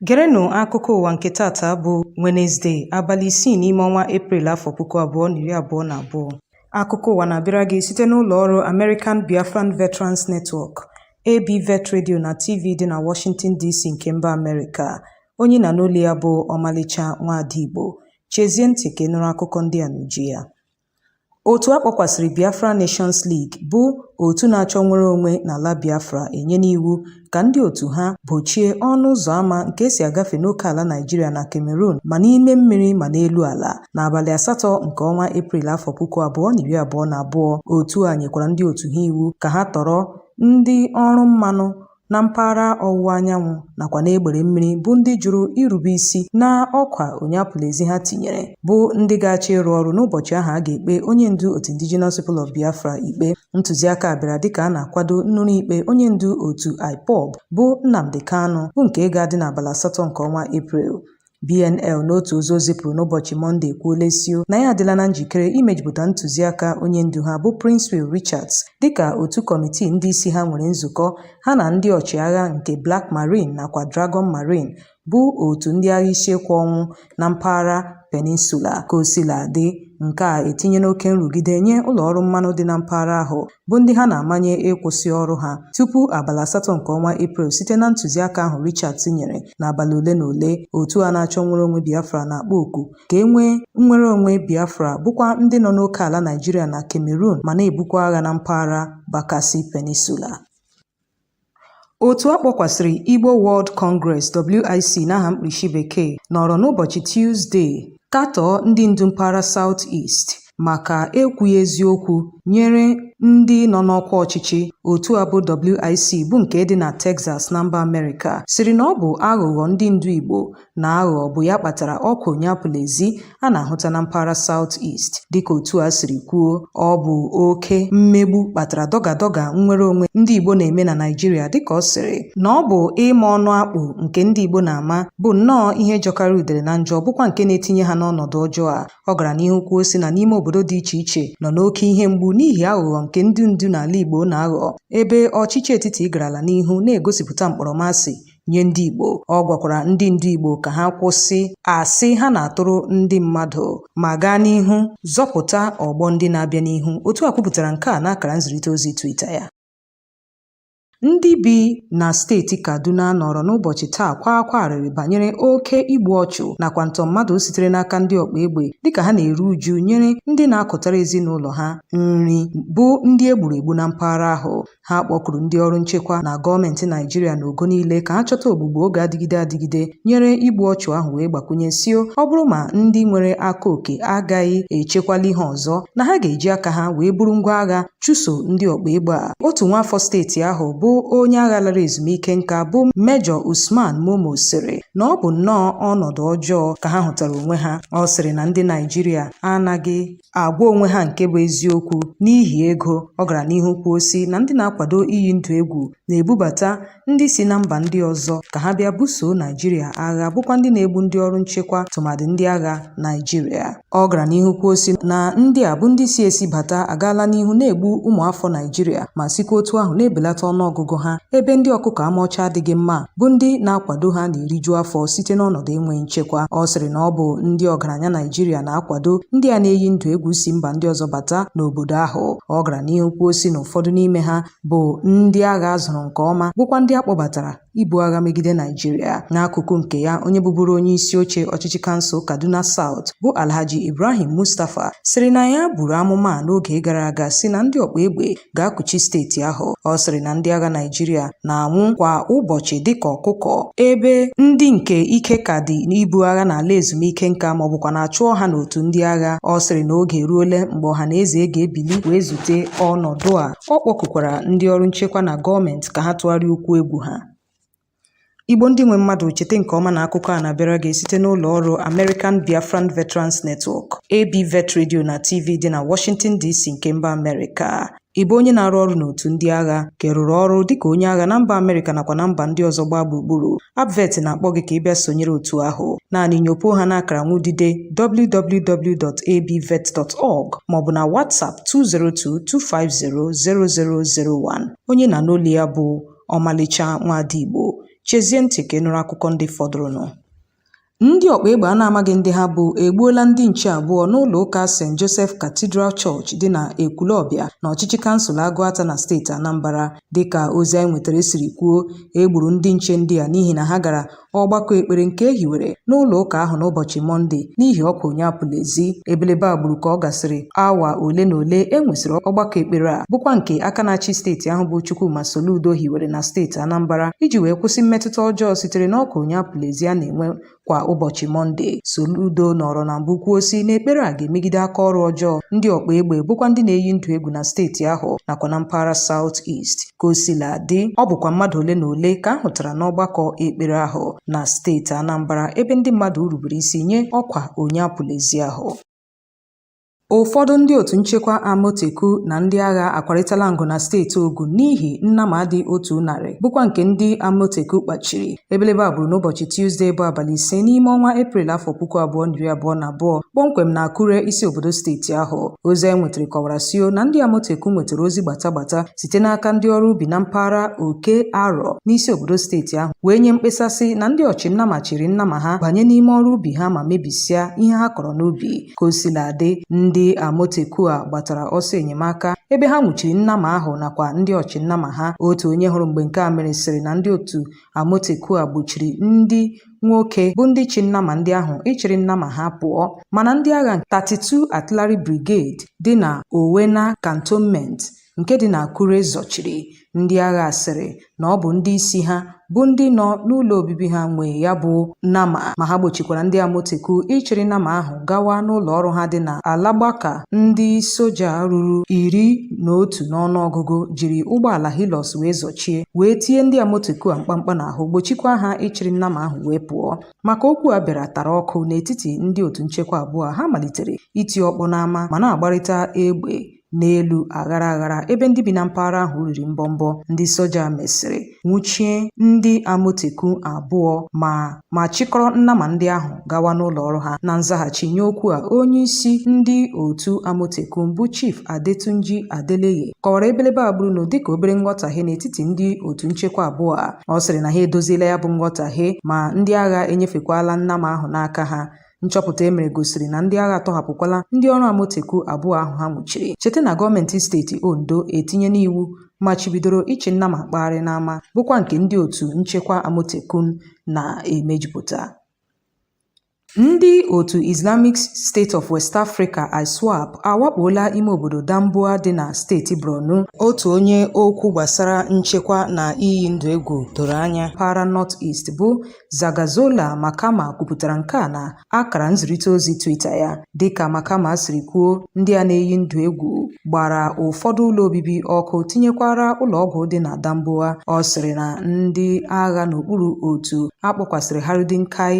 Gerenụ akụkọ ụwa nke taata bụ Wenezde, abalị isii n'ime ọnwa Eprel afọ puku abụọ na iri abụọ na abụọ. Akụkọ ụwa na-abịara gị site n'ụlọ ọrụ American Biafran Veterans Network, ABVET Radio na TV dị na Washington DC nke mba Amerịka. Onye ị na-anụ olu ya bụ Ọmalịcha Nwada Igbo. Chezie ntị ka ị nụrụ akụkọ ndị a n'uju ya. Otu a kpọkwasịrị Biafra Nations League bụ otu na-achọ nnwere onwe n'ala Biafra enyena iwu ka ndị otu ha gbochie ọnụ ụzọ ama nke e si agafe n'oke ala Naịjirịa na Cameroon ma n'ime mmiri ma n'elu ala n'abalị asatọ nke ọnwa Eprel afọ puku abụọ na iri abụọ na abụọ. Otu a nyekwara ndị otu ha iwu ka ha tọrọ ndị ọrụ mmanụ na mpaghara ọwụwa anyanwụ nakwa n'egbere mmiri bụ ndị jụrụ irube isi na ọkwa onye apụla ezi ha tinyere bụ ndị ga-achọ ịrụ ọrụ n'ụbọchị ahụ a ga-ekpe onye ndu otu Indigenous People of Biafra ikpe ntụziaka a bịara dịka a na-akwado nnụrụ ikpe onye ndu otu IPOB bụ Nnamdi Kanu bụ nke ga-adị n'abalị asatọ nke ọnwa Eprel BNL n'otu ozi o zipụrụ n'ụbọchị Mọnde ekwuola sị na ya adịla na njikere imejupụta ntụziaka onye ndu ha bụ Princewill Richards dịka otu kọmitii ndị isi ha nwere nzukọ ha na ndị ọchịagha nke Black Marine nakwa Dragon Marine bụ otu ndị agha isi ekwe ọnwụ na mpaghara peninsula. Ka o sila dị, nke a etinyena oke nrụgide nye ụlọ ọrụ mmanụ dị na mpaghara ahụ bụ ndị ha na-amanye ịkwụsị ọrụ ha tupu abalị asatọ nke ọnwa Eprel site na ntụziaka ahụ Richards nyere n'abalị ole na ole otu a na-achọ nnwere onwe Biafra na-akpọ oku ka e nwee nnwere onwe Biafra bụkwa ndị nọ n'oke ala Naijiria na Cameroon ma na-ebukwa agha na mpaghara Bakassi Peninsula Otu a kpọkwasịrị Igbo World Congress, WIC n'aha mkpirisi bekee, nọrọ n'ụbọchị Tuzdee katọọ ndị ndu mpaghara South East maka ekwughị eziokwu nyere ndị nọ n'ọkwa ọchịchị otu a bụ WIC bụ nke dị na Texas na mba Amerịka sịrị na ọ bụ aghụghọ ndị ndu Igbo na-aghọ bụ ya kpatara ọkwa onye apụla ezi a na-ahụta na mpaghara South East dịka otu a siri kwuo ọ bụ oke mmegbu kpatara dọgadọga nnwere onwe ndị Igbo na-eme na Naịjirịa dịka ọ sịrị na ọ bụ ịma ọnụ akpụ nke ndị Igbo na-ama bụ nnọọ ihe jọkarị udere na njọ bụkwa nke na-etinye ha n'ọnọdụ ọjọọ a ọ gara n'ihu kwuo sị na n'ime obodo dị iche iche nọ n'oke ihe mgbu n'ihi aghụghọ nke ndị ndu n'ala Igbo na-aghọ ebe ọchịchị etiti garala n'ihu na-egosipụta mkpọrọmasị nye ndị Igbo ọ gwakwara ndị ndu Igbo ka ha kwụsị asị ha na-atụrụ ndị mmadụ ma gaa n'ihu zọpụta ọgbọ ndị na-abịa n'ihu otu a kwupụtara nke a n'akara nzirịta ozi Twitter ya Ndị bi na steeti Kaduna nọrọ n'ụbọchị taa kwaa akwa arịrị banyere oke igbu ọchụ nakwa ntọ mmadụ sitere n'aka ndị ọkpa egbe dịka ha na-eru uju nyere ndị na-akụtara ezinụlọ ha nri bụ ndị e gburu egbu na mpaghara ahụ. Ha kpọkuru ndị ọrụ nchekwa na gọọmenti Naijiria n'ogo niile ka ha chọta ogbugbo ga-adịgide adịgide nyere igbu ọchụ ahụ wee gbakwunye sị ọ bụrụ ma ndị nwere aka oke agaghị echekwali ha ọzọ na ha ga-eji aka ha wee buru ngwa agha chụso ndị ọkpa egbe a otu nwaafọ steeti ahụ bụ onye agha lara ezumike nka bụ mejọ Usman Momo sịrị na ọ bụ nnọọ ọnọdụ ọjọọ ka ha hụtara onwe ha ọ sịrị na ndị Naijiria anaghị agwa onwe ha nke bụ eziokwu n'ihi ego ọ gara n'ihu kwuo sị na ndị na-akwado iyi ndụ egwu na-ebubata ndị si na mba ndị ọzọ ka ha bịa buso naijiria agha bụkwa ndị na-egbu ndị ọrụ nchekwa tụmadị ndị agha naijiria ọ gara n'ihu kwuo sị na ndị a bụ ndị si esi bata agaala n'ihu na-egbu ụmụafọ naijiria ma sikwa otu ahụ na-ebelata ọnụọgụgụ ha ebe ndị ọkụkọ ama ọcha adịghị mma bụ ndị na-akwado ha na-eriju afọ site n'ọnọdụ enweghị nchekwa ọ sịrị na ọ bụ ndị ọgaranya Naijiria na-akwado ndị a na-eyi ndụ egwu si mba ndị ọzọ bata n'obodo ahụ ọ gara n'ihu kwuo sị na ụfọdụ n'ime ha bụ ndị agha a zụrụ nke ọma bụkwa ndị a kpọbatara ibu agha megide Naijiria n'akụkụ nke ya onye bụburu onye isi oche ọchịchị kansụl Kaduna South bụ Alhaji Ibrahim Mustapha sịrị na ya buru amụma n'oge gara aga sị na ndị ọkpa egbe ga-akụchi steeti ahụ ọ sịrị na ndị agha Naịjirịa na-anwụ kwa ụbọchị dịka ọkụkọ ebe ndị nke ike ka dị n'ibu agha na-ala ezumike nka ma ọ bụkwanụ a chụọ ha n'otu ndị agha ọ sịrị na oge eruole mgbe ọha na eze ga-ebili wee zute ọnọdụ a ọ kpọkukwara ndị ọrụ nchekwa na gọọmenti ka ha tụgharịa ụkwụ egwu ha Igbo ndị nwe mmadụ cheta nke ọma na akụkọ a na-abịara gị site n'ụlọ ọrụ American Biafran Veterans Network, ABVET Radio na TV dị na Washington DC nke mba Amerịka. Ị bụ onye na-arụ ọrụ n'otu ndị agha ka ị rụrụ ọrụ dịka onye agha na mba Amerịka nakwa na mba ndị ọzọ gbaa gburugburu ABVET na-akpọ gị ka ị bịa sonyere otu ahụ naanị nyopo ha n'akara nwudide www.abvet.org maọbụ na WhatsApp 202 250 0001 onye ị na-anụ olu ya bụ ọmalịcha nwaada Igbo chezie ntị ka ị nụrụ akụkọ ndị fọdụrụnụ ndị ọkpa egbe a na-amaghị ndị ha bụ egbuola ndị nche abụọ n'ụlọ ụka St. Joseph Cathedral Church dị na Ekwulọbịa na ọchịchị kansụl Agụata na steeti Anambra dịka ozi anyị nwetara siri kwuo e gburu ndị nche ndị a n'ihi na ha gara ọgbakọ ekpere nke e hiwere n'ụlọ ụka ahụ n'ụbọchị mọnde n'ihi ọkwa onye apụla ezi ebelebe a gburu ka ọ gasịrị awa ole na ole e nwesịrị ọgbakọ ekpere a bụkwa nke aka na-achị steeti ahụ bụ Chukwuma Soludo hiwere na steeti Anambra iji wee kwụsị mmetụta ọjọọ sitere n'ọkwa onye apụla ezi a na-enwe kwa ụbọchị mọnde Soludo nọrọ na mbụ kwuo sị na ekpere a ga-emegide aka ọrụ ọjọọ ndị ọkpa egbe bụkwa ndị na-eyi ndụ egwu na steeti ahụ nakwa na mpaghara South East Ka o sila dị, ọ bụkwa mmadụ ole na ole ka a hụtara n'ọgbakọ ekpere ahụ na steeti Anambra ebe ndị mmadụ rubere isi nye ọkwa onye apụla ezi ahụ. Ụfọdụ ndị otu nchekwa Amotekun na ndị agha akwarịtala ngụ na steeti Ogun n'ihi nnama dị otu narị bụkwa nke ndị Amotekun kpachiri. Ebelebe a gburu n'ụbọchị Tuzdee bụ abalị ise n'ime ọnwa Eprel afọ puku abụọ na iri abụọ na abụọ kpọmkwem na Akure isi obodo steeti ahụ. Ozi anyị nwetara kọwara sị na ndị Amotekun nwetara ozi gbata gbata site n'aka ndị ọrụ ubi na mpaghara oke arọ n'isi obodo steeti ahụ wee nye mkpesa sị na ndị ọchịnnama chịrị nnama ha banye n'ime ọrụ ubi ha ma mebisịa ihe ha kọrọ n'ubi ka o sila dị ndị amotekun a gbatara ọsọ enyemaka ebe ha nwụchiri nnama ahụ nakwa ndị ọchịnnama ha otu onye hụrụ mgbe nke a mere sịrị na ndị otu amotekun a gbochiri ndị nwoke bụ ndị chị nnama ndị ahụ ịchịrị nnama ha pụọ mana ndị agha 32 Artillery Brigade dị na Owena Cantonment nke dị n'Akure zọchiri ndị agha sịrị na ọ bụ ndị isi ha bụ ndị nọ n'ụlọ obibi ha nwe ya bụ nnama ma ha gbochikwara ndị Amotekun ịchịrị nnama ahụ gawa n'ụlọ ọrụ ha dị na Alagbaka ndị soja ruru iri na otu n'ọnụọgụgụ jiri ụgbọala Hilux wee zọchie wee tie ndị Amotekun a mkpamkpa n'ahụ gbochikwa ha ịchịrị nnama ahụ wee pụọ ma ka okwu a bịara tara ọkụ n'etiti ndị otu nchekwa abụọ ha malitere iti ọkpọ n'ama ma na-agbarịta egbe n'elu aghara aghara ebe ndị bi na mpaghara ahụ riri mbọmbọ ndị soja mesịrị nwụchie ndị amotekun abụọ ma ma chịkọrọ nnama ndị ahụ gawa n'ụlọ ọrụ ha na nzaghachi nye okwu a onye isi ndị otu amotekun bụ chief adetunji adeleye kọwara ebelebe a gburu dịka obere nghọtahie n'etiti ndị otu nchekwa abụọ a ọ sịrị na ha edoziela ya bụ nghọtahie ma ndị agha enyefekwala nnama ahụ n'aka ha nchọpụta e mere gosiri na ndị agha atọhapụkwala ndị ọrụ Amotekun abụọ ahụ ha nwụchiri cheta na gọọmenti steeti Ondo etinyela iwu machibidoro ịchị nnama kpagharị n'ama bụkwa nke ndị otu nchekwa Amotekun na-emejupụta Ndị otu Islamic State of West Africa (ISWAP) awakpoola ime obodo Damboa dị na steeti Borno. Otu onye okwu gbasara nchekwa na iyi ndụ egwu doro anya mpaghara North East bụ Zagazola Makama kwupụtara nke a na akara nzirịta ozi Twitter ya. Dịka Makama siri kwuo, ndị a na-eyi ndụ egwu gbara ụfọdụ ụlọ obibi ọkụ tinyekwara ụlọọgwụ dị na Damboa. Ọ sịrị na ndị agha n'okpuru otu a kpọkwasịrị Harudin Kai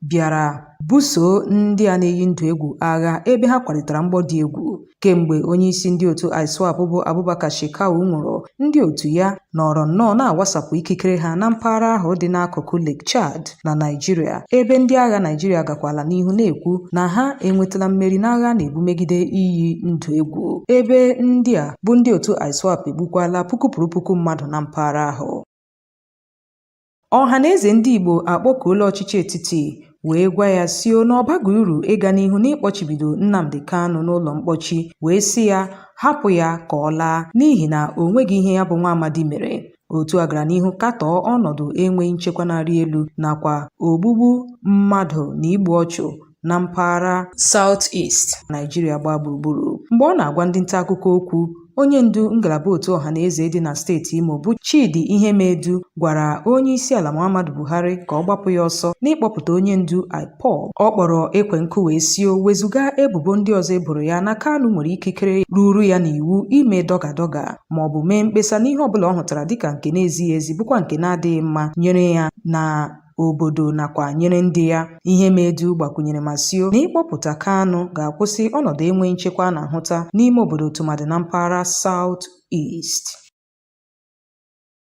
bịara buso ndị a na-eyi ndụ egwu agha ebe ha kwarịtara mgbọ dị egwu. Kemgbe onyeisi ndị otu ISWAP bụ Abubakar Shekau nwụrụ, ndị otu ya nọrọ nnọọ na-awasapụ ikikere ha na mpaghara ahụ dị n'akụkụ Lake Chad na Naịjirịa, ebe ndị agha Naịjirịa gakwala n'ihu na-ekwu na ha enwetala mmeri n'agha a na-ebu megide iyi ndụ egwu, ebe ndị a bụ ndị otu ISWAP egbukwala puku pụrụ puku mmadụ na mpaghara ahụ. Ọha na eze ndị Igbo akpọkuola ọchịchị etiti wee gwa ya sio na ọ baghị uru ịga n'ihu n'ịkpọchibido Nnamdi Kanu n'ụlọ mkpọchi wee sị ya hapụ ya ka ọ laa n'ihi na o nweghị ihe ya bụ nwa amadi mere otu a gara n'ihu katọọ ọnọdụ enweghị nchekwa na-arị elu nakwa ogbugbu mmadụ na igbu ọchụ na mpaghara South East Naịjirịa gbaa gburugburu mgbe ọ na-agwa ndị nta akụkọ okwu onye ndu ngalaba otu ọha na eze dị na steeti Imo bụ Chidi Ihemedu gwara onye isi ala Muhammadu Buhari ka ọ gbapụ ya ọsọ n'ịkpọpụta onye ndu IPOB ọ kpọrọ ekwe nkụ wee sio wezụga ebubo ndị ọzọ e boro ya na Kanu nwere ikikere ruru ya n'iwu ime dọga dọga ma ọ bụ mee mkpesa n'ihe ọ bụla ọ hụtara dịka nke na-ezighị ezi bụkwa nke na-adịghị mma nyere ya na obodo nakwa nyere ndị ya Ihemedu gbakwunyere ma sio na ịkpọpụta Kanu ga-akwụsị ọnọdụ enweghị nchekwa a na-ahụta n'ime obodo tụmadị na mpaghara South East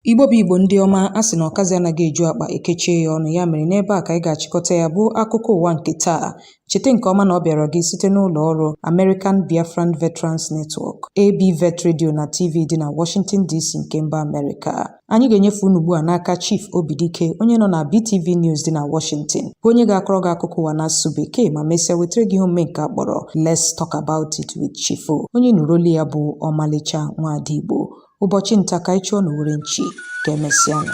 Igbo bụ Igbo ndị ọma a sị na ọkazi anaghị eju akpa e kechie ya ọnụ ya mere n'ebe a ka anyị ga-achịkọta ya bụ akụkọ ụwa nke taa Cheta nke ọma na ọ bịara gị site n'ụlọ ọrụ American Biafran Veterans Network, ABVET Radio na TV dị na Washington DC nke mba Amerịka. Anyị ga-enyefe unu ugbu a n'aka Chief Obidike onye nọ na BTV News dị na Washington bụ onye ga-akọrọ gị akụkọ ụwa n'asụsụ Bekee ma mesịa wetara gị ihe omume nke a kpọrọ Let's Talk About It with Chief O. Onye nụrụ olu ya bụ Ọmalịcha Nwada Igbo. ụbọchị nta ka anyị chụọ n'owere nchi ka emesịa nụ